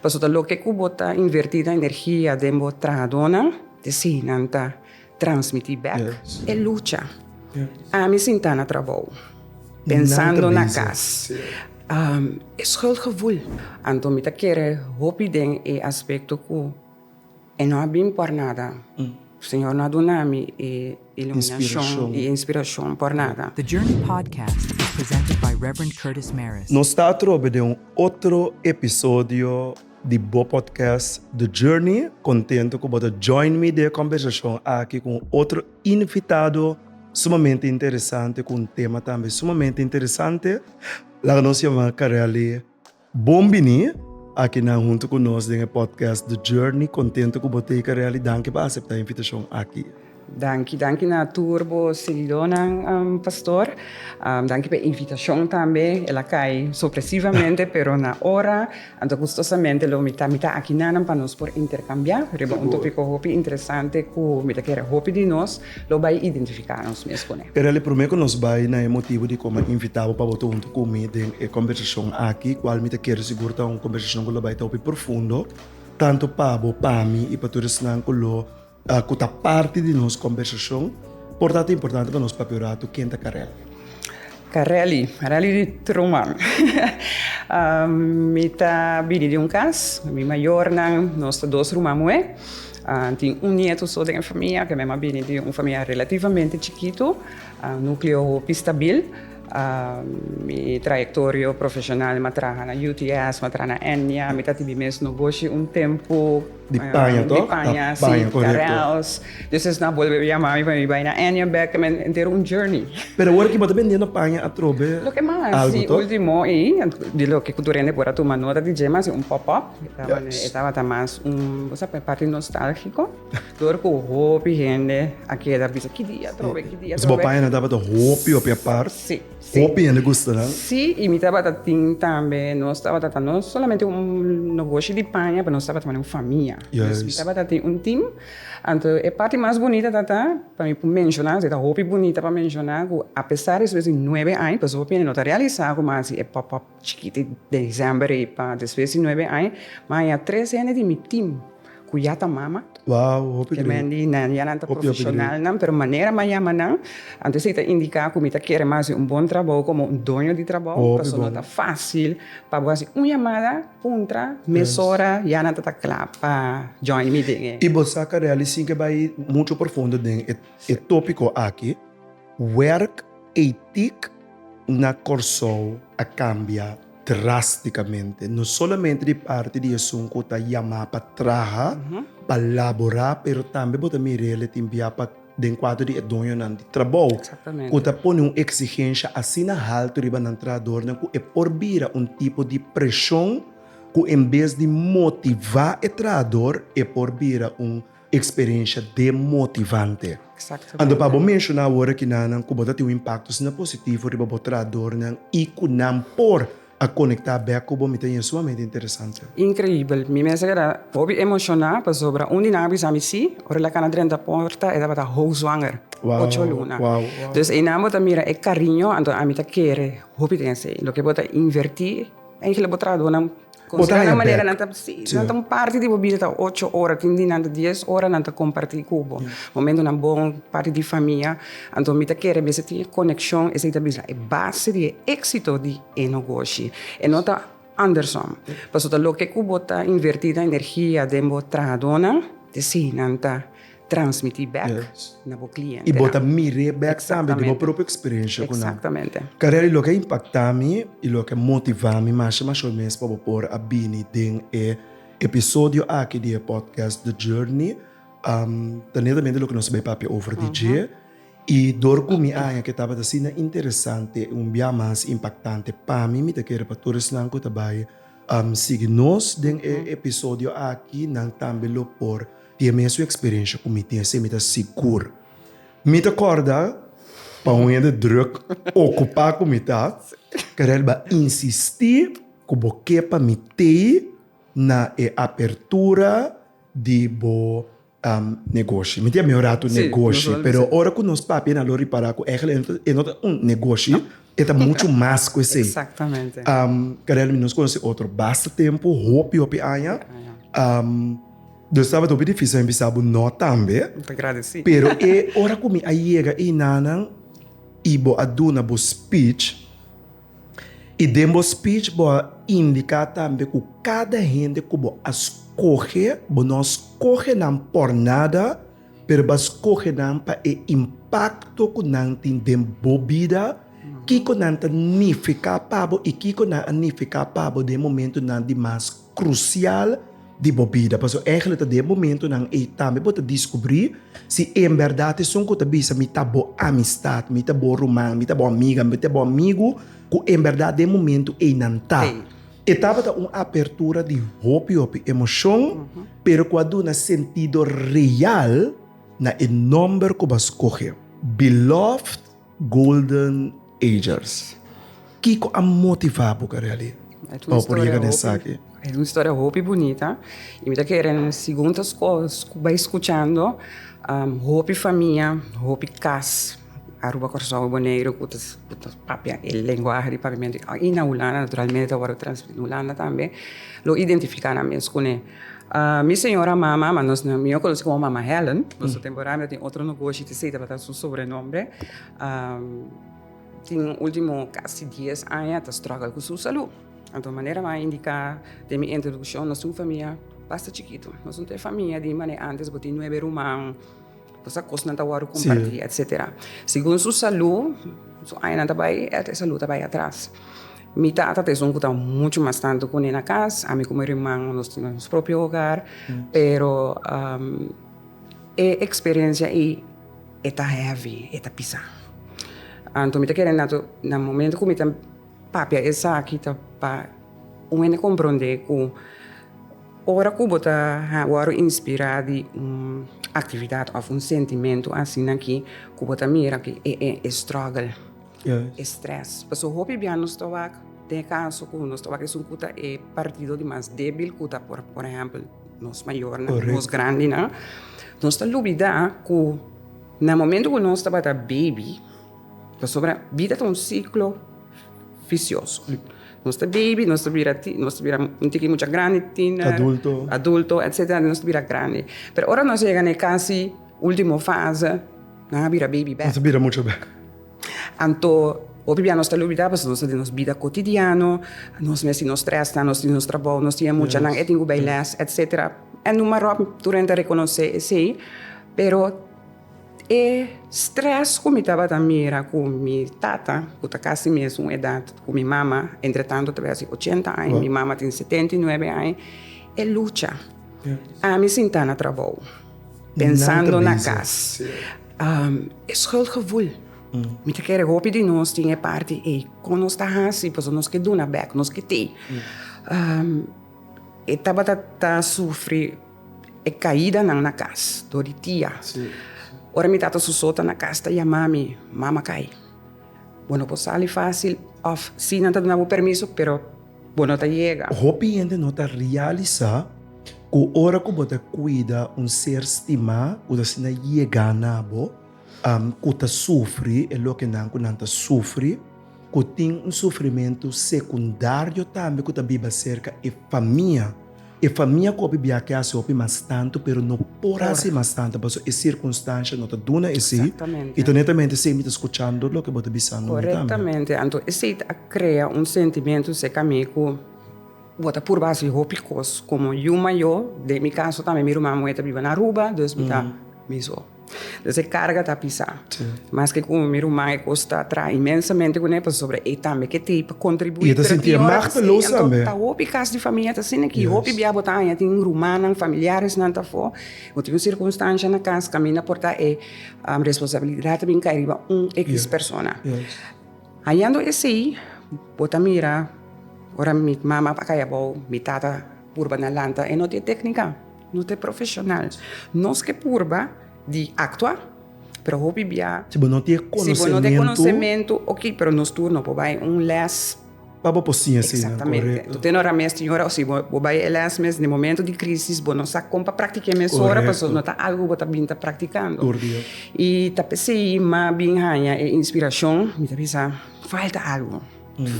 Paso ta loke ku bo ta invertí nan energia den bo trahadónan, te sinan ta transmití bèk e lucha. Ami sintá na trabou, pensando na kas. E skuldgevoel. Anto mi ta kere hopi den e aspekto ku. E no a bin por nada. Señor no a duna mi e iluminashon i e inspirashon por nada. The Journey Podcast is presented by Rev. Curtis Mares. Nos ta atrobe den un otro episodio di bo podcast The Journey. Contento cu bo ta join mi den e conversacion aki cu un otro invitado sumamente interesante cu un tema tambe sumamente interesante. Laga nos yama Carelli. Bon bini aki nan hunto ku nos den e podcast The Journey. Kontento ku bo teka reali. Danki pa aseptá e invitashon aki. Danki, danki na tur bo seguidónan, Pastor. Danki pa e invitashon tambe. El a kai sorpresivamente, pero na ora. Anto gustosamente lo mi ta, mi ta aki nan pa nos por interkambiá riba un tópiko hopi interesante ku mi ta kere hopi di nos. Lo bai identifiká nos mes ku ne. E reali promé ku nos bai na e motibu di koma invitá bo pa bo ta huntu ku mi den e kombersashon aki, kual mi ta kere sigur ta un kombersashon ku lo bai ta hopi profundo, tantu pa bo, pa mi i pa tur esnan ku lo ku ta parti di nos kombersashon. Por ta ta importante pa nos papia un ratu ken ta Karel. Ta rally, rally di truman. Mi ta bini di un kas, mi mayornan, nos ta dos ruman muhé. Tin un nietu so den e famia, ke mema bini di un famia relativamente chikitu, nukleo hopi stabil. Mi trayektorio profeshonal mi a traha na UTS, mi a traha na Ennia, mi ta tibi mes nogoshi un tempu. Di paña toh? Di paña, si. Paña, korekto. Carels. Dus es nan a bolbe yama mi pa mi bai na Anniaback ta men entero un journey. Pero awor aki bo ta bendiendo paña atrobe algu toh? Loke mas di ultimo ei, di loke ku tur hende por a tuma nota di dje, mas e un pop-up. E tabata mas un, bo sa, parti nostálgiko. Tur ku hopi hende a keda bisa, ki di atrobe, ki di atrobe. Entonces bo paña nan tabata hopi, hopi apart. Si. Hopi hende gusta nan. Sí, y mi tabata tin tambe, nos tabata ta no solamente un nogoshi di paña, pero nos tabata tambe un famia. Yes. Mi tabata tin un team. Anto e parti mas bunita ta ta, pa mi por menciona, si ta hopi bunita pa menciona, cu apesar despues di nuebe aña, pues hopi hende no ta realisa cu mas si e pop-up. Chikiti den december ey pa despues di nuebe aña ma hay tres hende di mi team cu ya ta mama. Wow hopi gree. Kimen di nan ya nan ta profesionalnan pero manera ma yama nan antes ey ta indica cu mi ta kere mas den un bon trabou como un doño di trabou pasobra no ta facil pa bo haci un yamada puntra mesora ya nan ta ta cla pa join mi den e. Y bo sa Carelli sin ke bay mucho profundo den e topico aki werk etic. na Kòrsou a kambia drástikamente, no solamente di parti di esun ku ta yamá pa traha, pa laborá, pero tambe bo ta mira el e ta enbiá pa den kuadro di e doñonan di trabou ku ta pone un eksigensha asina haltu riba nan trahadornan ku e por bira un tipo di preshon ku en bes di motivá e trahador e por bira un Experiencia demotivante. Anto pa bo menciona awor aki nanan cu bo ta tin un impacto asina positivo riba bo trahadornan y cu nan por a conecta bek cu bo mi ta yendo sumamente interesante. Increibel. Mi mes a keda hopi emociona pasobra un di nan a bisa mi si, ora el a kana drenta porta e tabata houswanger, ocho luna. Dus eynan bo ta mira e cariño, anto ami ta kere hopi den esey. Loke bo ta inverti, eyngele bo trahadornan. Bota haña bek. Nan ta si, nan ta un parti di bo bida ta ocho ora, tin di nan ta dies ora nan ta kompartí ku bo. Momentunan bon, parti di famia. Anto mi ta kere mester tin e konekshon, esei ta bisa e base di e éksito di e negoshi. E no ta andersom. Pasobra loke ku bo ta invertí nan energia den bo trahadonan, esei nan ta transmití bèk na bo klientenan. I bo ta mir'é bèk tambe di bo propio eksperensia ku nan. Karel, i loke a impaktá mi i loke a motivá mi masha masha mes pa bo por a bini den e episodio aki di e pòdkast The Journey, ta netamente loke nos bai papia over di dje. I dor ku mi aña ke tabata asina interesante i un biaha mas impaktante pa mi, mi ta kere pa tur esnan ku ta bai sigui nos den e episodio aki nan tambe lo por. Tin e mesun experiencia cu mi tin así, mi ta sigur. Mi ta corda pa un hende druk, ocupa cu mi ta, Karel ba insisti cu bo ke pa mi tei na e apertura di bo um negoshi. Mi tin a mior rato negoshi, pero ora cu nos papia na lo ripara cu eigenlijk e no ta un negoshi. E ta mucho mas cu esey. Exactamente. Um, Carel, mi nos conoce otro basta tempo, hopi, hopi aña. Um, dus sabe hopi difícil empezar bu no tambe. Te agradeci. Pero e ora cu mi a llega e nanan y bo a duna bo speech y den bo speech bo a indica tambe cu cada hende cu bo a scoge, bo no a scoge nan por nada, Pero bo a skohe nan pa e impakto ku nan tin den bo bida. Kiko nan ta nifiká pa bo i kiko nan a nifiká pa bo den e momentunan di mas krusial di bo bida? Pasobra eigenlijk ta den e momentunan ei tambe bo ta diskubrí si en bèrdat esun ku ta bisa mi ta bo amistat, mi ta bo ruman, mi ta bo amiga, mi ta bo amigu ku en bèrdat den e momentu ei nan ta. E tabata un apertura di hopi hopi emocion, pero cu a duna sentido real na e nomber cu bo a scoge, Beloved Golden Agers. Kico a motiva bo ca reali bo por yega na esaki? Es un historia hopi bunita y mi ta kere na e segun ta bay scuchando hopi famia, hopi cas. Aruba Corazon y Boneiru cu ta cu ta papia e lenguahe di papiamento y na Hulanda naturalmente ta wòrdu transferí na Hulanda tambe lo identifiká nan mes cu nel. Mi señora mama, ma nos mi no conocí como Mama Helen, nos ta temporada mi ta tin otro nogoshi te esey tabata su sobrenombre. tin ultimo casi dies aña ta struggle cu su salú. Anto manera mi a indica den mi introduccion nos tin un famia basta chikito, nos no ta e famia di mane antes bo tin nuebe ruman, Kosa kos nan ta wòrdu kompartí, etsetera. Segun su salú, su añanan ta bai, e salú ta bai atras. Mi tata ta esun ku ta muchu mas tantu ku mi na kas. Ami ku mi ruman nos tin nos propio hogar, pero e eksperensia ei e ta hèvi, e ta pisa. Anto mi ta kere nato na momento ku mi ta papia esaki ta pa un hende komprondé ku. Ora ku bo ta wòrdu inspirá di un aktividat òf un sentimentu asina ki ku bo ta mira ku e strògel, e strès. Pasobra hopi bia nos ta wak den e kaso ku nos ta wak esun ku ta e partido di mas débil ku ta por por ehèmpel nos mayornan, nos grandinan. Nos ta lubidá ku na momentu ku nos tabata bebi, pasobra bida ta un siklo visioso. Nos ta baby, nos ta bira tin, nos ta bira un tiki mucha grandi, tiener. Adulto. Adulto, etcetera, nos ta bira grandi. Pero ora nos a yega na e casi ultimo fase, nan a bira baby bek. Nos a bira mucha bek. Anto, hopi bia nos ta lubida pasobra nos ta den nos bida cotidiano, nos mes tin nos stressnan, nos tin nos trabou, nos tin e mucha, nan e tin cu bay les, etcetera. E numa ròp tur hende ta reconoce esey, pero E stress cu mi tabata mira cu mi tata, cu ta casi mesun edad cu mi mama, entretanto ta bai haci ochenta aña, mi mama tin setenta y nuebe aña, e lucha. Ami sin ta na trabou, pensando na cas, e schuldgevoel. Mi ta kere hopi di nos tin e parti ey, con nos ta haci pasobra nos ke duna bek, nos ke tey. E tabata ta sufri. E kaidanan na kas, dor di tia. Ora mi tata su sota na kas ta yama mi, Mama kai. Bo no por sali fásil òf sí nan ta duna bo permiso, pero bo no ta yega. Hopi hende no ta realisá ku ora ku bo ta kuida un ser stimá ku ta asina yegá na bo, ku ta sufri e lokenan ku nan ta sufri, ku tin un sufrimentu sekundario tambe ku ta biba serka e famia. E famia ku hopi biaha ke hasi hopi mas tantu pero no por hasi mas tantu paso e sirkunstansha no ta duna esi i ta netamente esei mi ta skuchando loke bo ta bisando mi tambe. Anto esei ta krea un sentimentu serka mi ku bo ta purba hasi hopi kos. Komo yu mayo, den mi kaso tambe mi ruman moe ta biba na Aruba, dus mi ta miso. Entonces e carga ta pisa. Maske cu mi ruman e cos ta traha inmensamente cu ne pasobra e tambe ke tey pa contribuí. Y e ta sinti e machteloos tambe. Ta hopi cas di famia ta asina aki. Hopi bia bo ta haña tin rumannan, familiaresnan ta afó. Bo tin un circunstancia na cas caminda por ta e responsabilidad a bin cay riba un equis persona. Hañando esey bo ta mira ora mi mama a cay abao mi tata purba na lanta e no tin e tecnica. No ta e profesional. Nos ke purba di aktua, pero hopi bia. Si bo no tin e konosementu. Si bo no tin e konosementu, oki, pero nos tur no por bai un lès. Pa bo por siña eseinan. Exactamente. Korekto. Bo tene ora mes tin ora o si bo bai e lès mes den e momentu di krisis bo no sa kon pa praktik'é mesora. Korekto. Pasobra no ta algu ku bo ta bin ta praktikando. Tur dia. I ta p'esei ma bin haña e inspirashon, mi ta bisa falta algu.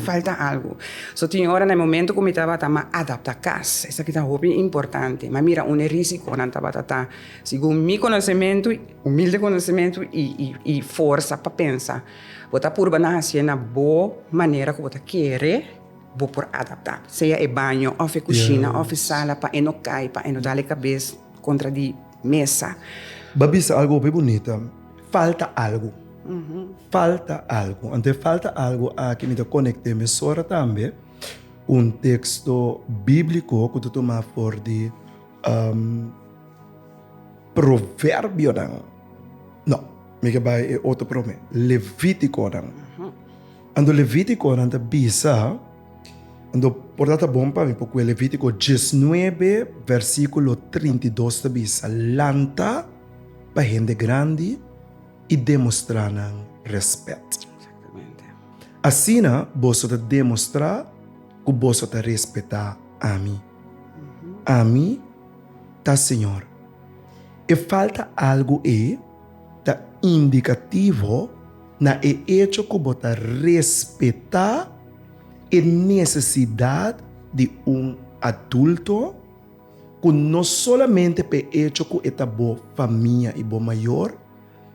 Falta algu. So tin ora na e momento ku mi tabata ma adaptá kas, esaki ta hopi importante. Ma mira un e risikonan tabata ta, segun mi konosementu, humilde konosementu i forsa pa pensa, bo ta purba nan hasié na bo manera ku bo ta kere, bo por adaptá. Sea e baño òf e kushina òf e sala pa e no kai, pa e no dal e kabes kontra di. Mesa. Ba bisa algo hopi bunita, falta algo. Falta algo. Anto e falta algo aki mi ta konekté mesora tambe ku un teksto bíbliko ku ta tumá for di Proverbionan. No, mi ke bai e otro promé, Levítikonan. Anto Levítikonan ta bisa. Ando, por ta ta bon pa mi, pokue Levítiko diesnuebe vèrsikulo trinta i dos ta bisa, Lanta pa hende grandi i demostrá nan rèspèt. Asina boso ta demostrá ku boso ta respetá ami. Ami ta Señor. E falta algu ei? Ta indikativo na e echo ku bo ta respetá e nesesidat di un adulto ku no solamente pa e echo ku e ta bo famia i bo mayor,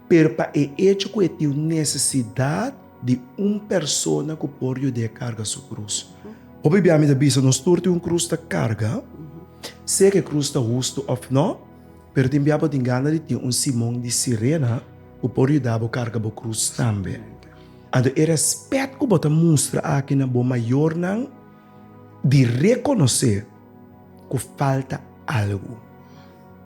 pero pa e echo ku e tin un nesesidat di un persona ku por yud'é karga su krus. Bo bibiamen ta bisa nos tur tin un krus ta karga, sea ku e krus ta hustu òf nò. Pero tin bia bo tin gana di tin un Simon di Sirena ku por yuda bo karga bo krus tambe. Anto e rèspèt ku bo ta mustra aki na bo mayornan di rekonosé ku falta algu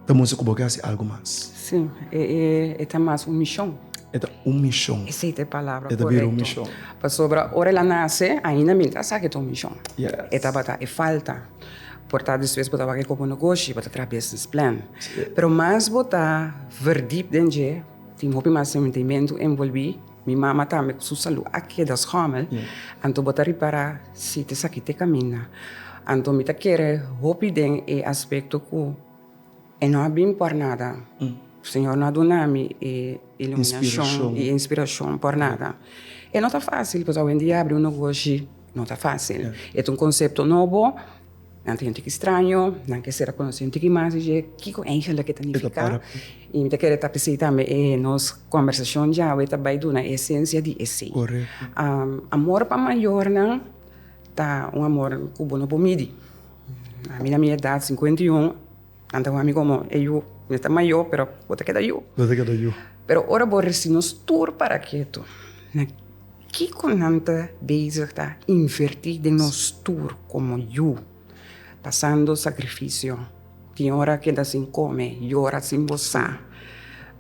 ta mustra ku bo ke hasi algu mas. Sí, e ta mas un mishon. E ta un mishon. Esei ta e palabra korekto. E ta bira un mishon. Pasobra ora el a nase ainda mi el ta sa ku e ta un mishon. E tabata e falta. Por ta despues bo ta wak e komo negoshi, bo ta traha business plan. Pero mas bo ta verdip den dje, tin hopi mas sentimentu envolvi. Mi mama tambe ku su salu a keda schomel, anto bo ta ripara si ta esaki ta kaminda. Anto mi ta kere hopi den e aspekto ku. E no a bin por nada. Señor no a duna mi e iluminacion y inspiracion por nada. E no ta facil pues awendia abri un nogoshi no ta facil. E ta un concepto nobo, nan ta sinti ki straño, nan kiser a conoce un tiki mas dje kico eigenlic e ta nifica. Y mi ta kere ta p'esey tambe e nos conversacion djawe ta bay duna e esencia di esey. Amor pa mayornan ta un amor cu bo no por midi. Ami na mi edat sinkuenta i un nan ta wak mi komo e yu. Mi ta mayó pero bo ta keda yu. Bo ta keda yu. Pero ora bo resi nos tur para ketu, na kiko nan ta bezig ta invertí den nos tur komo yu, pasando sakrifisio, tin ora keda sin kome, yora sin bosá,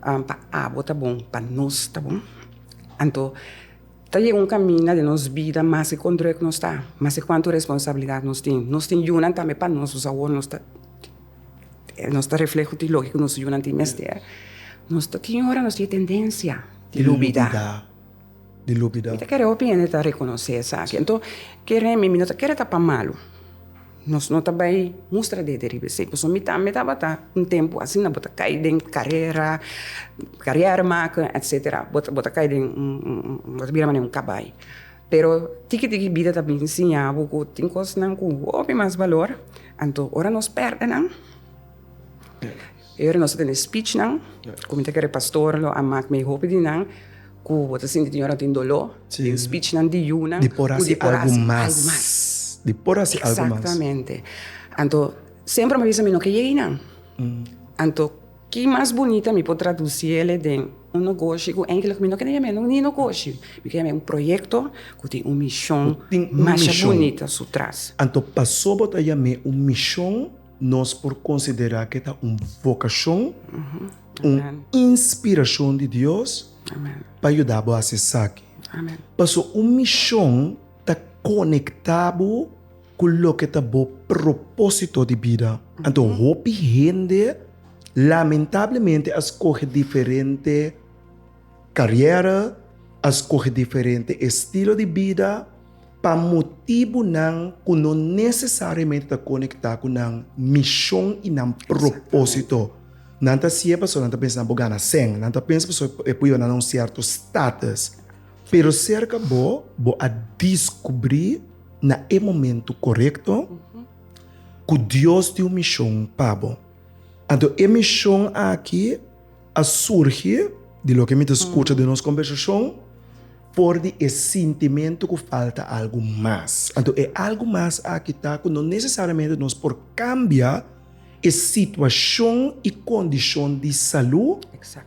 pa abo ta bon, pa nos ta bon? Anto Ta yega un kaminda den nos bida mas ke kon drùk nos ta, mas ke kuantu responsabilidat nos tin. Nos tin yunan tambe pa nos, dus awor nos ta nos ta refleho di loke ku nos yunan tin mester. Nos ta tin ora nos tin e tendensia di lubidá, di lubidá. Mi ta kere hopi hende ta rekonosé esaki. Anto, kere mi, mi no ta kere ta pa malu. Nos no ta bai mustra dede riba esei, pasobra mi tambe tabata un tempu asina, bo ta kai den karera, karièr make, etsetera, bo ta bo ta kai den bo ta bira manera un kabai, pero tiki tiki bida ta bini siña bo ku tin kosnan ku hopi mas balor, anto ora nos pèrdenan Ora nos ta tene speechnan, ku mi ta kere pastor lo a mak mi hopi di nan ku bo ta sinti tin ora tin doló, tin speechnan di yunan ku di por hasi algu mas. Di por hasi algu mas. Exactamente. Anto, semper mi a bisa mi no ke yei nan. Anto, ki mas bunita mi por tradusi ele den un nogoshi ku eigentlek mi no kende yama e ni nogoshi, mi ke yama e un proyekto ku tin un mishon masha bunita su tras. Anto, pasobra bo ta yama e un mishon. Nos por konsiderá ku e ta un vokashon, un inspirashon di Dios pa yuda bo hasi esaki. Pasobra un mishon ta konektá bo ku loke ta bo propósito di bida. Anto hopi hende lamentablemente a skohe diferente. Carriera a scoge diferente estilo di bida pa motibonan cu no necesariamente ta conecta cu nan mision y nan propósito. Nan ta haci'e pasobra nan ta pensa nan por gana cen, nan ta pensa pasobra e por yora nan na un cierto status. Pero cerca bo, bo a descubri na e momento corecto cu Dios tin un mision pa bo. Anto e mision aki. A surgi di loke mi ta skucha den nos kombersashon por di e sintimentu ku falta algu mas. Anto e algu mas aki ta ku no nesesariamente nos por kambia e situashon i kondishon di salú,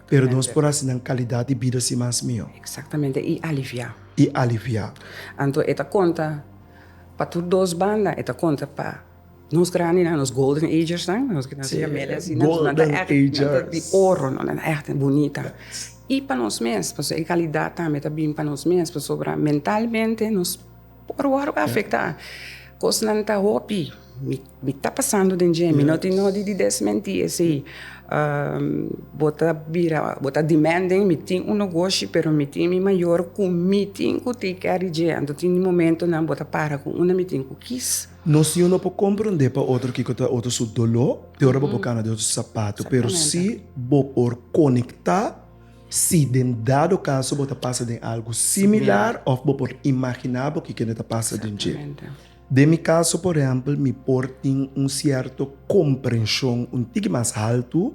pero nos por hasi nan kalidat di bida si mas mihó. Eksaktamente, i aliviá. I aliviá. Anto e ta konta pa tur dos banda, e ta konta pa Nos grandi nan, nos golden agersnan, nos kinan siña media asina, nos nan ta ègt, nan ta di oro, nos nan ta ègt bunita. I pa nos mes, pasobra e kalidat tambe ta bini pa nos mes, pasobra mentalmente nos por wòrdu afektá. Kosnan ta hopi, mi, mi ta pasando den dje, mi no tin nodi di desmentí esei. bo ta bira, bo ta di mènt den mi, tin un negoshi pero mi tin mi mayor ku mi tin ku take care di dje. Anto tin di momentonan bo ta para ku unda mi tin ku kis. No si uno por compronde pa otro kico ta otro su doló te ora bo por cana den otro su sapato, pero si bo por conecta si den dado caso bo ta pasa den algo similar of bo por imagina bo ki kende ta pasa den dje. Den mi caso, por ehempel, mi por tin un cierto comprension un tiki mas halto.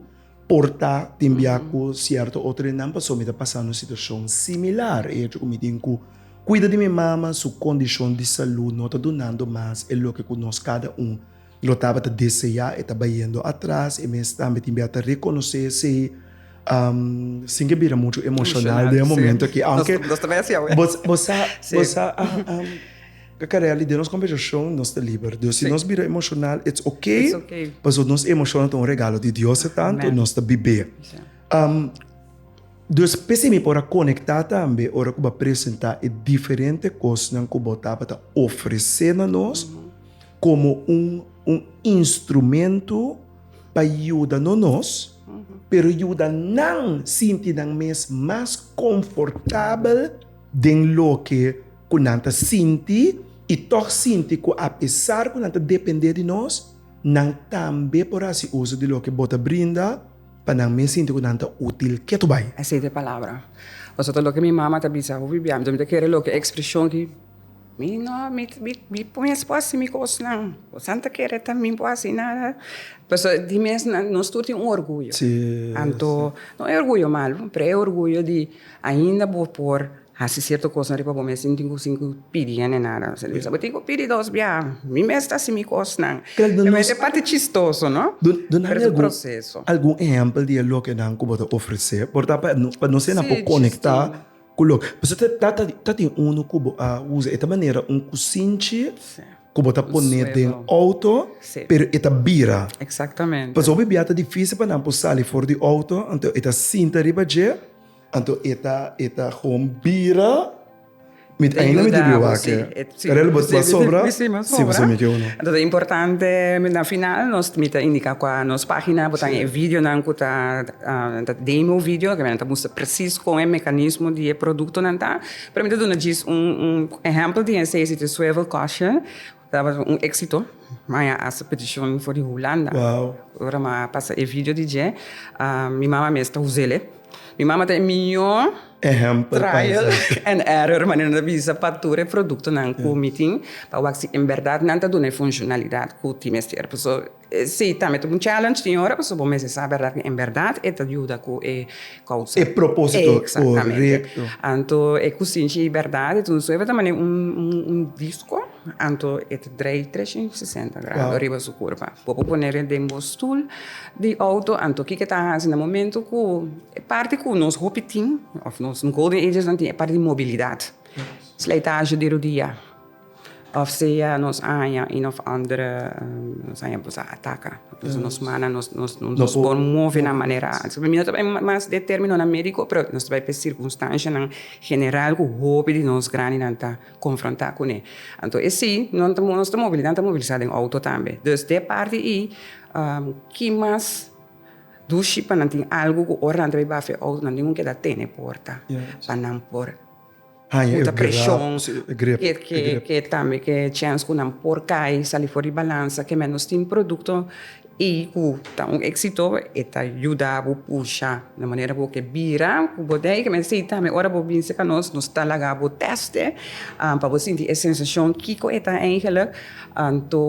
Por ta tin bia ku sierto outrinan pasobra mi ta pasa un situashon similar. E hecho ku mi tin ku kuida di mi mama, su kondishon di salú no ta dunando mas e loke ku nos kada un lo tabata deseá. E ta bayendo atras. E mes tambe tin bia ta rekonosé esei. Sin ke bira muchu emoshonal den e momentu akí, aunke bo sa, bo sa. Kakareli, den nos kombersashon nos ta liber. Dus si nos bira emoshonal, it's okay, pasobra nos emoshonnan ta un regalo di Dios e tantu nos ta bib'é. Dus p'esei mi por a konektá tambe ora ku bo a presentá e diferente kosnan ku bo tabata ofresé na nos komo un un instrumento pa yuda no nos, pero yuda nan sinti nan mes mas komfortabel den loke. ku nan ta sinti i tòg sinti ku apesar ku nan ta dependé di nos, nan tambe por hasi uso di loke bo ta brinda pa nan mes sinti ku nan ta útil. Ketu bai. Esei ta e palabra. Pasobra ta loke mi mama ta bisa, hopi bia, mi ta kere loke ekspreshon ki mi no, mi, mi mes por hasi mi kosnan, kosnan ta kere tambe mi por hasi nada. Pasobra e tin mes nan, nos tur tin un orguyo. Anto, no e orguyo malu, pero e orguyo di ainda bo por. Hasi sierto kosnan riba bo mes sin tin ku sin ku pidi hende nada. Bo sabia bo tin ku pidi dos biaha. Mi mes ta hasi mi kosnan. Tambe e parti chistoso, no? Pero es un proseso. Duna algun ehèmpel di e lokenan ku bo ta ofresé, por ta pa nos ena por konektá ku loke. Pasobra ta ta ta ta tin unu ku bo a usa, e ta manera un kusinchi ku bo ta pone den outo, pero e ta bira. Pasobra biaha ta difísil pa nan por sali for di outo, enton e ta sinta riba dje. Anto e ta e ta gewoon bira mit einde mit di biwa ke rel bo ta sobra si bo sumi ke uno. Anto ta importante mit na final nos mi ta indika kua nos pagina bo tan e videonan ku ta demo video ke nan ta mustra presis kon e mekanismo di e produktonan ta pero mi ta duna djis un ehèmpel di esei si ta swivel caution Taba un exito, mai a haci peticion for di Hulanda. Wow. Ora mi a pasa e video di dje, mi mama mes ta uzel e. Mi mama ta e mihor Ehempel trial and error, manera nan ta bisa pa tur e productonan cu mi tin, pa wak si en berdad nan ta duna e funcionalidad cu tin mester. Pasobra. Sí, tambe ta un challenge tin ora, pasobra bo mester sa berdad ku en berdad e ta yuda ku e kousa. E propósito korekto. Anto e kusinshi di berdad, e ta un suever ta manera un disko, anto e ta drai tresciento y sesenta grado riba su kurpa. Bo por pone e den bo stul di outo, anto kiko e ta hasi na momento ku e parti ku nos hopi tin òf nos golden agesnan tin, e parti di mobilidat. Slijtashi di rodia. Of sea nos aña un of ander, nos aña boso a ataka. Entonces nos mana, nos nos por move na manera, mi no ta bai mas den terminonan medico, pero nos ta bai pa e circunstancianan general cu hopi di nos grandinan ta confronta cune. Anto e si, nos ta mobilida, nos ta mobilisa den auto tambe. Dus den e parti ei, ki mas dushi pa nan tin algu cu ora nan ta bai bafia e auto nan tin cu keda tene porta pa nan por. haña e grep, e grep. Ke tambe ke chèns ku nan por kai, sali for di balansa, ke mèn nos tin produkto i ku ta un éksito, e ta yuda bo pusha na manera ku bo ke bira ku bodega. Ke mester i tambe ora bo bin serka nos, nos ta laga bo tèste pa bo sinti e sensashon kiko e ta eingelik. Anto.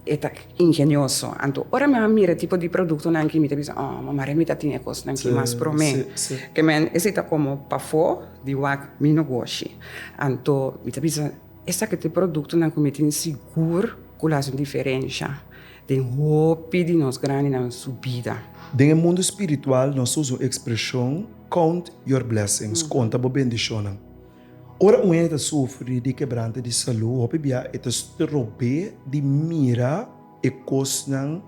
E ta ingenioso. Anto ora mi a mira e tipo di produktonan ki mi ta bisa, oh, mamá Remy ta tin e kosnan ki mas promé. Ke men, esei ta komo pafó di wak mi nogoshi. Anto mi ta bisa, esaki ta e produktonan ku mi tin sigur ku lo haci un diferensha den hopi di nos grandinan su bida. Den e mundu spiritual nos ta usa un ekspreshon, Count your blessings, konta bo bendishonnan. Ora un hende ta sufri di kebranta di salú, hopi bia e ta strob'é di mira e kosnan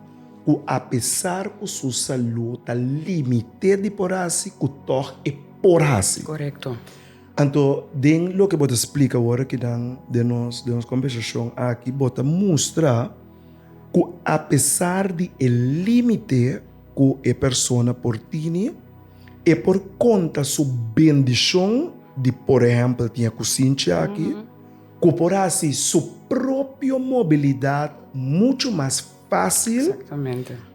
ku apesar ku su salú ta limité di por hasi ku tòg e por hasi. Korekto. Anto den loke bo ta splika ora ki nan den nos den nos kombersashon aki bo ta mustra ku apesar di e límite, ku e persona por tini, e por konta su bendishon di por ehèmpel tin e kusinchi aki, ku por hasi su propio mobilidat muchu mas fásil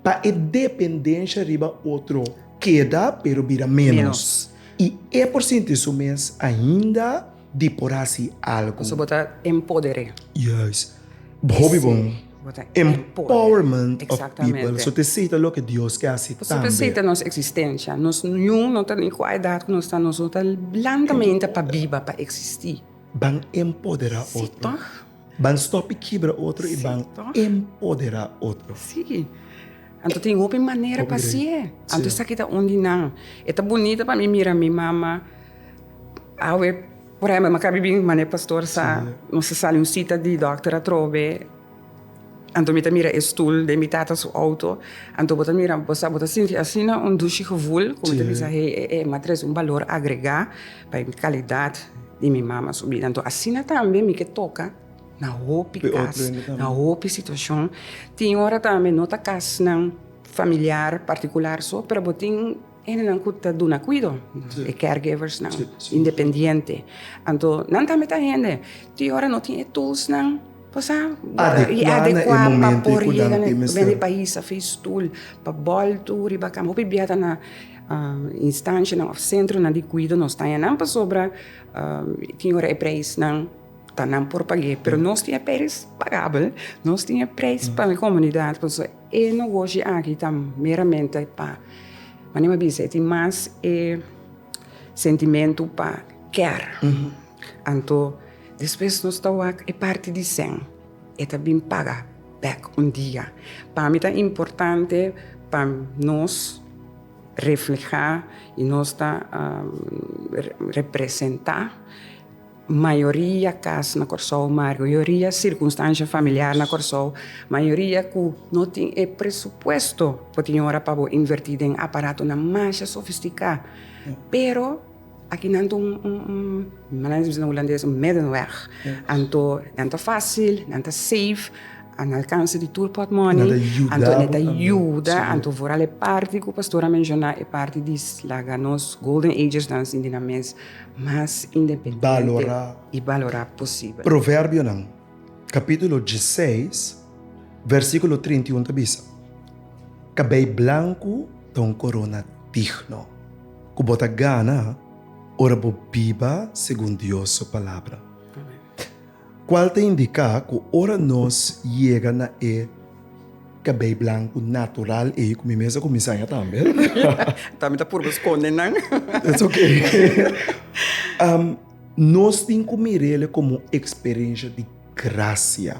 pa e dependensha riba otro keda pero bira ménos i e por sinti su mes ainda di por hasi algu. Pasobra bo ta empoder'é. Yes. Hopi bon. Bo ta empoder'é. Empowerment of people. So ta esei ta loke Dios ke hasi tambe. So ta esei ta nos eksistensha. Nos niun no ta ni kua edat ku nos ta, nos no ta blandamente pa biba, pa eksistí. Ban empoderá otro. Sí, tòg. Ban stopi kibra otro i ban empoderá otro. Sí. Anto tin hopi manera pa sié. Anto esaki ta un di nan. E ta bunita pa mi mira mi mama. Awe, por ehempel, mi a kabi bin manera pastor sa, nos a sali un sita di dòkter atrobe, anto mi ta mira e stul den mi tata su outo. Anto bo ta mira, bo ta sinti asina un dushi gevul ku mi ta bisa, hei, e e m'a trese un balor agregá. Pa e kalidat di mi mama su bida. Anto asina tambe mi ke toka na hopi kas, na hopi situashon. Tin ora tambe no ta kasnan familiar partikular so, pero bo tin hendenan ku ta duna kuido, e caregiversnan independiente. Anto nan tambe ta hende tin ora no tin e tulsnan pa sa, i adekua pa por yega na e país, a fi stul, pa bòltu riba kama. Hopi bia ta na. Instanshanan òf sentronan di kuido nos taña nan pasobra e tin ora e preisnan ta nan por pag'é. Pero nos tin e preis pagabel, nos tin e preis pa e komunidat. Por eso e nogoshi aki ta meramente pa, mane mi a bisa, e tin mas e sentimentu pa kèr. Anto, despues nos ta wak e parti di Sen, e ta bin paga bek un dia. Pa mi ta importante pa nos refleha y nos ta representa mayoria cas na Corsou, mayoria circunstancia familiar na Corsou, mayoria cu no tin e presupuesto pa tin ora pa bo inverti den aparatonan masha sofistica, pero. Aki nan ta un, manera di bisa na hulandes, un middenweg. Anto nan ta fásil, nan ta safe, a na alkanse di tur pòtmòni, anto nan ta yuda, anto foral e parti ku pastor a menshoná, e parti di laga nos golden agesnan sinti nan mes mas independente i balorá posibel. Proverbionan. capítulo diesseis versículo trinta i un ta bisa, Cabei blancu ta un corona digno cu bo ta gana ora bo biba segun Dios su palabra. Cual ta indica cu ora nos yega na e cabei blancu natural ey, cu mi mes a cuminsa ya tambe, Tambe ta purba sconde nan. It's okay. Nos tin ku mir'El komo un eksperensha di grasia,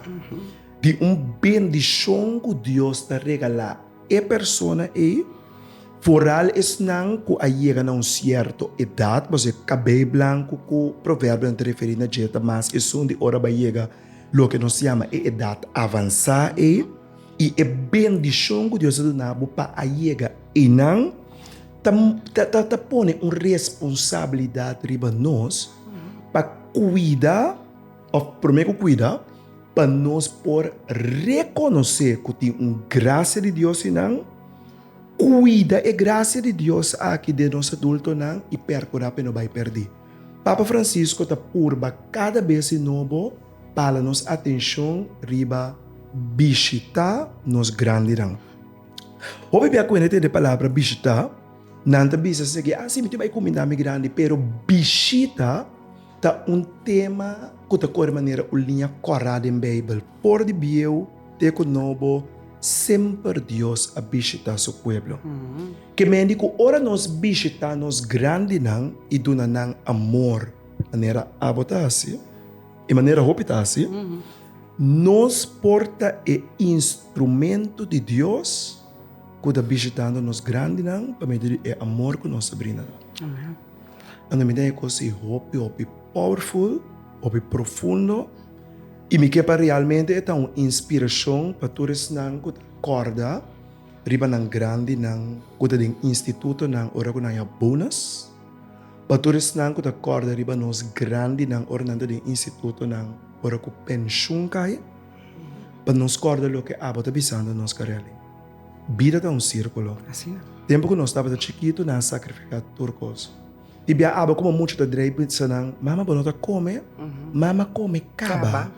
di un bendishon ku Dios ta regalá e persona ei, foral esnan ku a yega na un sierto edat, pasobra e kabei blanku ku Proverbionan ta referí na dje ta mas esun di ora bo a yega loke nos yama e edat avansá ei. I e bendishon ku Dios a duna bo pa a yega einan ta pone un responsabilidat riba nos pa kuida, òf promé ku kuida, pa nos por rekonosé ku tin un grasia di Dios einan, kuida e grasia di Dios aki den nos adultonan i perkurá pa e no bai pèrdí. Papa Francisco ta purba kada bes di nobo. Pala nos atenshon riba bishitá nos grandinan. Hopi bia ku hende tende e palabra bishitá, nan ta bisa sigi, Ah, si, mi tin bai kuminda mi grandi. Pero bishita ta un tema ku ta kore manera un liña kòrá den Beibel. For di bieu te ku nobo, semper Dios a bishitá su pueblo. Ke mendi ku ora nos bishitá nos grandinan i duna nan amor. Manera abo ta hasi i manera hopi ta hasi, nos por ta e instrumentu di Dios ku ta bishitando nos grandinan pa medio di e amor ku nos a brinda nan. Anto mi den e kos ei hopi hopi powerful, hopi profundo i mi ke pa realmente e ta un inspirashon pa tur esnan ku ta kòrda riba nan grandinan ku ta den institutonan ora ku nan a bonus. Pa tur esnan ku ta kòrda riba nos grandinan ora nan ta den institutonan, ora ku penshun kai, pa nos kòrda loke abo ta bisando nos kareli, Bida ta un sírkulo. Tempu ku nos tabata chikitu nan a sakrifiká tur kos. I bia abo komo mucha ta dreip di sa nan, Mama, bo no ta kome? Mama kome kaba,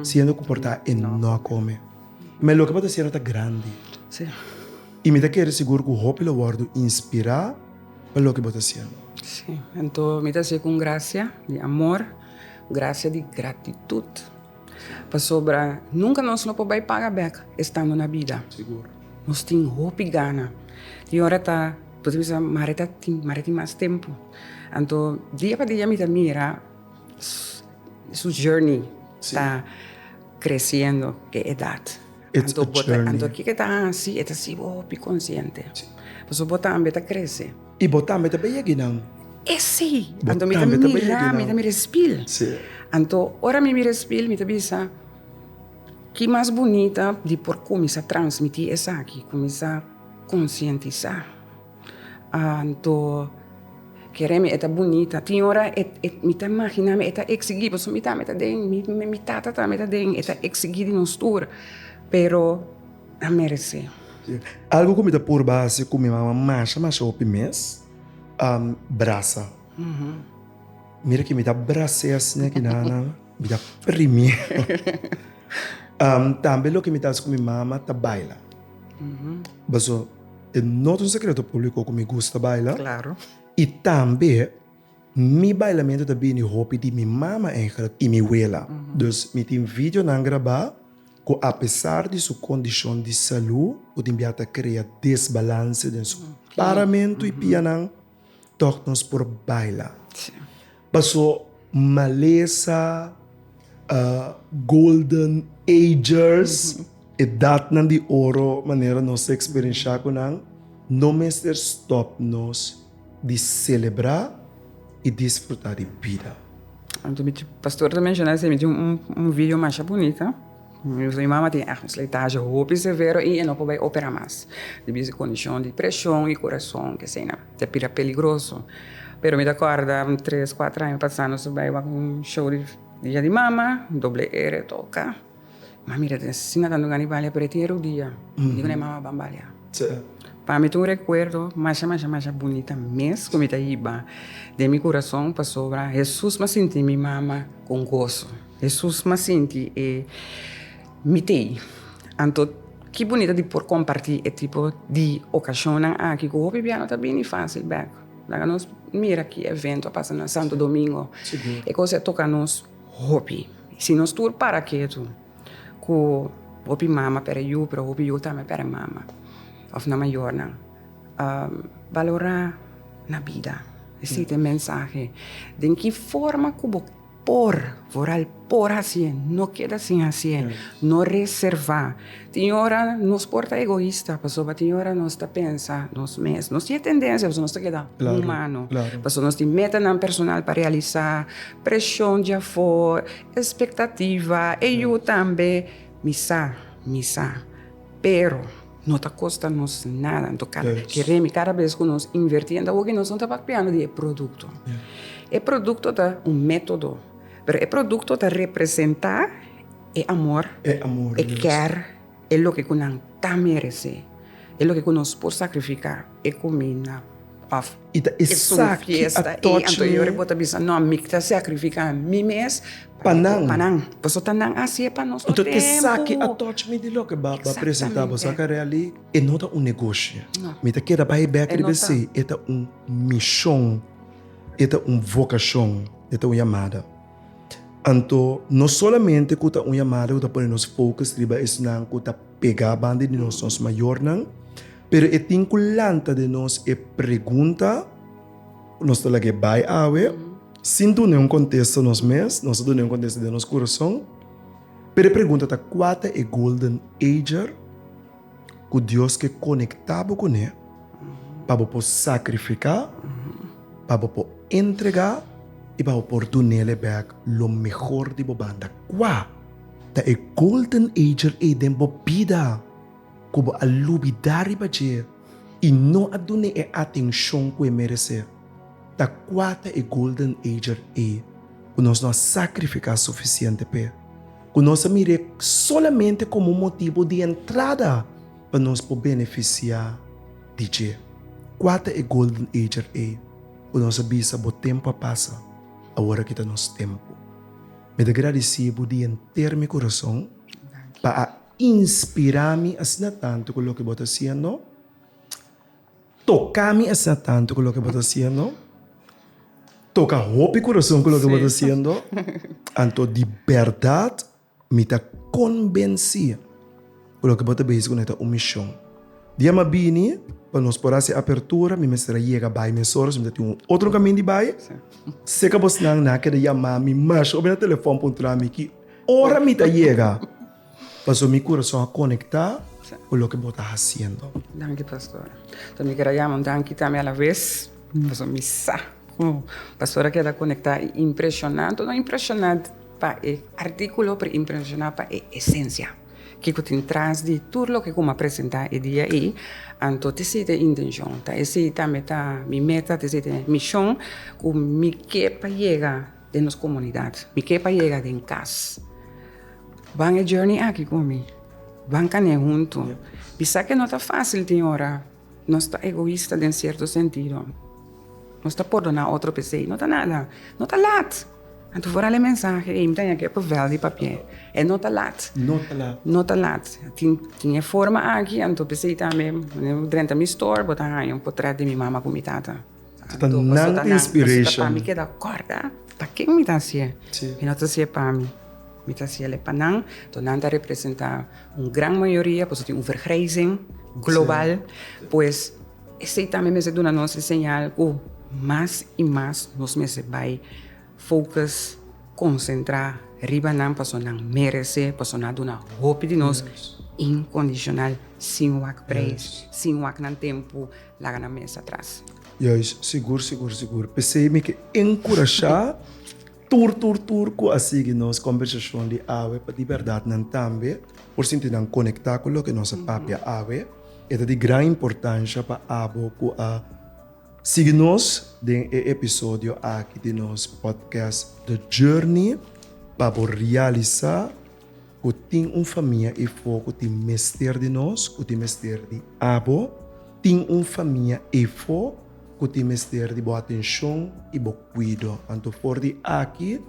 siendo ku por ta e no a kome. Mé loke bo ta siendo ta grandi. I mi ta kere sigur ku hopi lo wòrdu inspirá. pa loke bo ta siendo. Sí, anto mi ta haci'e cu un gracia di amor, gracia di gratitud, pasobra nunca nos no por bay paga bek estando na bida. Sigur. Nos tin hopi gana. Tin ora ta, bo ta bisa, mari ta tin, mari tin mas tempo. Anto dia pa dia mi ta mira su journey ta creciendo e edad. It's a journey. Anto kiko ta hasi e ta sibi hopi konsiente. Pasobra bo tambe ta krese. I bo tambe ta bay yegi nan. E si. Anto mi ta mira, mi ta mira e spil. Anto ora mi mira e spil mi ta bisa, ki mas bunita di por kuminsá transmití esaki, kuminsá konsientisá. Anto kere mi e ta bunita. Tin ora mi ta imaginá mi e ta eksiguí, pasobra mi tambe ta den, mi tata tambe ta den, e ta eksiguí di nos tur, pero a meresé. Algu ku mi ta purba hasi ku mi mama masha masha hopi mes, brasa. Mira ke mi ta bras'é asina e kinanan, mi ta primié. Tambe loke mi ta hasi ku mi mama ta baila. E no ta un sekreto públiko ku mi gusta baila. Klaro. I tambe mi bailamentu ta bini hopi di mi mama ègher i mi wela. Dus mi tin videonan grabá ku apesar di su kondishon di salú ku tin bia ta krea desbalanse den su paramentu i pianan. Tok nos por baila. Paso malesa, golden agers, edatnan di oro manera nos ta experiencia cu nan, no mester stop nos di celebra y disfruta di bida. Pastor ta menciona esey, mi tin un video masha bunita. Mi mama tin ègt un slijtashi hopi severo i e no por bai opera mas, debí su kondishon di preshon i kurason, ke eseinan. Ta bira peligroso. Pero mi ta kòrda un tres, kuater aña pasá nos a bai wak un show di Dia di Mama, doble R a toka. Mi a mira den asina ta dunga di balia pero e tin e rodia. Mi digu na e mama, Ban balia. Pa mi ta un rekuerdo masha, masha, masha bunita mes ku mi ta hiba. Den mi kurason, pasobra Hesus lo sinti mi mama ku goso. Hesus mas sinti e mitei. Anto ki bunita di por kompartí e tipo di okashonnan aki ku hopi bia no ta bini fásil bèk! Laga nos mira ki evento a pasa na Santo Domingo. E kos ei a toka nos hopi. Si nos tur para ketu ku hopi mama pere yu, pero hopi yu tambe pere mama òf nan mayornan balorá na bida. Esei ta e mensahe. Den ki forma ku bo. Por, vooral por hasié, no keda sin hasié, no reservá. Tin ora nos por ta egoista, pasobra tin ora nos ta pensa nos mes. Nos tin e tendensia pasobra nos ta keda humano, pasobra nos tin metanan personal pa realisá, preshon di afor, espektativa, e yu tambe. Mi sa, mi sa, pero. No ta kosta nos nada. Anto kada bes ke remi, kada bes ku nos invertí, enta hopi nos no ta papiando di e produkto. E produkto ta un método, pero e produkto ta representá e amor, e kèr, e loke ku nan ta meresé, e loke ku nos por sakrifiká, e kuminda. Of es un fiesta i anto yori bo ta bisa no mi ta sacrifica mi mes pa nan pasobra nan a haci'e pa nos tur tempo. Exactamente. Saca really e no ta un negoshi mi ta keda bay bek riba esi e ta un mishon e ta un vocashon e ta un yamada anto no solamente ku ta un yamada ku ta pone nos focus riba esnan ku ta pega banda di nos mayornan. Pero e tin cu lanta den nos e pregunta cu nos ta lagu'e bay awe, sin duna un contesta nos mes, nos a duna un contesta den nos curason. Pero e pregunta ta, cua ta e golden ager cu Dios ke conecta bo cune pa bo por sacrifica, pa bo por entrega y pa bo por dunele bek lo mehor di bo banda? Cua ta e golden ager ey den bo bida? Ku bo a lubidá riba dje i no a dun'é e atenshon ku e meresé. Ta kua ta e golden ager ei ku nos no a sakrifiká sufisiente p'e, ku nos a mir'é solamente komo un motibu di entrada pa nos por benefisiá di dje? Kua ta e golden ager ei ku nos a bisa, Bo tempu a pasa, awor aki ta nos tempu? Mi ta gradisí bo di henter mi kurason pa a Inspirá mi asina tantu ku loke bo ta hasiendo. Toká mi asina tantu ku loke bo ta hasiendo. Toka hopi kurason ku loke bo ta hasiendo. Anto di bèrdat mi ta kombensí ku loke bo ta besi kuné ta un mishon. Dia mi a bini, pa nos por hasi e apertura, mi mester a yega bai mesoras, mi ta tin un otro kaminda di bai. Si e kabosnan nan a keda yama mi mas hopi na telefòn puntra mi ki. Ora mi ta yega, paso mi kurason a konektá ku loke bo ta hasiendo. Danki pastora. Ta mi keda yama un danki tambe a la ves, paso mi sa ku pastora keda konektá i impreshoná, anto no impreshoná pa e artíkulo, pero impreshoná pa e esensia, ke ku tin tras di tur loke ku mi a presentá e dia ei, anto ta esei ta e intenshon, ta esei tambe ta mi meta, ta esei ta e mishon ku mi ke pa yega. den nos komunidat. Mi ke pa yega den kas. Ban e journey aki ku mi. Ban kan'é huntu. Mi sa ke no ta fásil tin ora nos ta egoista den sierto sentido. Nos ta pordoná otro p'esei. No ta nada. No ta lat. Anto for hali e mensahe ei mi ta haña ke papel di papié. E no ta lat. No ta lat. Tin e forma aki anto p'esei tambe wen bo drenta mi store bo ta haña un potret di mi mama ku mi tata. Hasta nan tin inspiration. Mi keda corda pa ken mi ta hacié. Mi no ta hacié pa mi. Mi ta hacié ley pa nan. Entonces nan ta representa un gran mayoria boso tin un vergrijzing global. Pues esey tambe mester duna nos e señal cu mas y mas nos mester bay focus, concentra riba nan pasobra nan merece, pasobra nan a duna hopi di nos incondicional sin wak prijs, sin wak nan tempo. laga nan mes atras. Juis, sigur, sigur, sigur. P'esei mi ke enkurashá tur, tur, tur ku a sigui nos kòmbersashon di awe pa di bèrdat nan tambe por sinti nan konektá ku loke nos a papia awe. E ta di gran importansha pa abo ku a sigui nos den e episodio aki di nos pòdkèst The Journey pa bo realisá. ku tin un famia efo ku tin mester di nos, ku tin mester di abo. Tin un famia efo ku tin mester di bo atenshon i bo kuido. Anto for di aki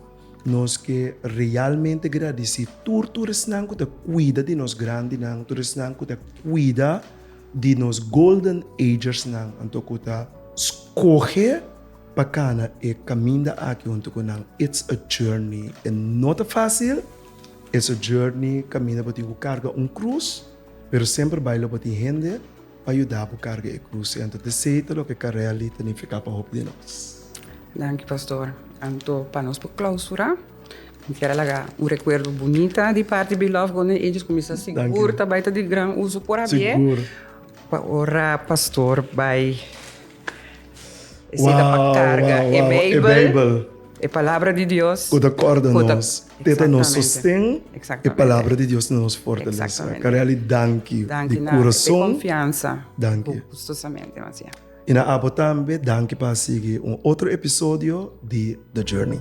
nos ke realmente gradisí tur tur esnan ku ta kuida di nos grandinan, tur esnan ku ta kuida di nos golden agersnan, anto ku ta skohe pa kana e kaminda aki huntu ku nan. It's a journey, e no ta fásil. E sojourni kaminda bo tin ku karga un krus, pero semper bai lo bo tin hende pa yuda bo karga e krus ei. Anto desei ta loke karel di ta nifiká pa hopi di nos. Danki pastor. Anto pa nos por klausurá, mi kier a laga un rekuerdo bunita di parti Beloved Golden Ages ku mi sa sigur ta bai ta di gran uso por abier, pa ora pastor bai. E seta pa karga e Beibel, e palabra di Dios. Ku ta kòrda nos, ku ta nos sosten, e palabra di Dios ta nos fortalese. Kareli, danki di kurason. Danki. I na abo tambe danki pa a sigui un otro episodio di The Journey.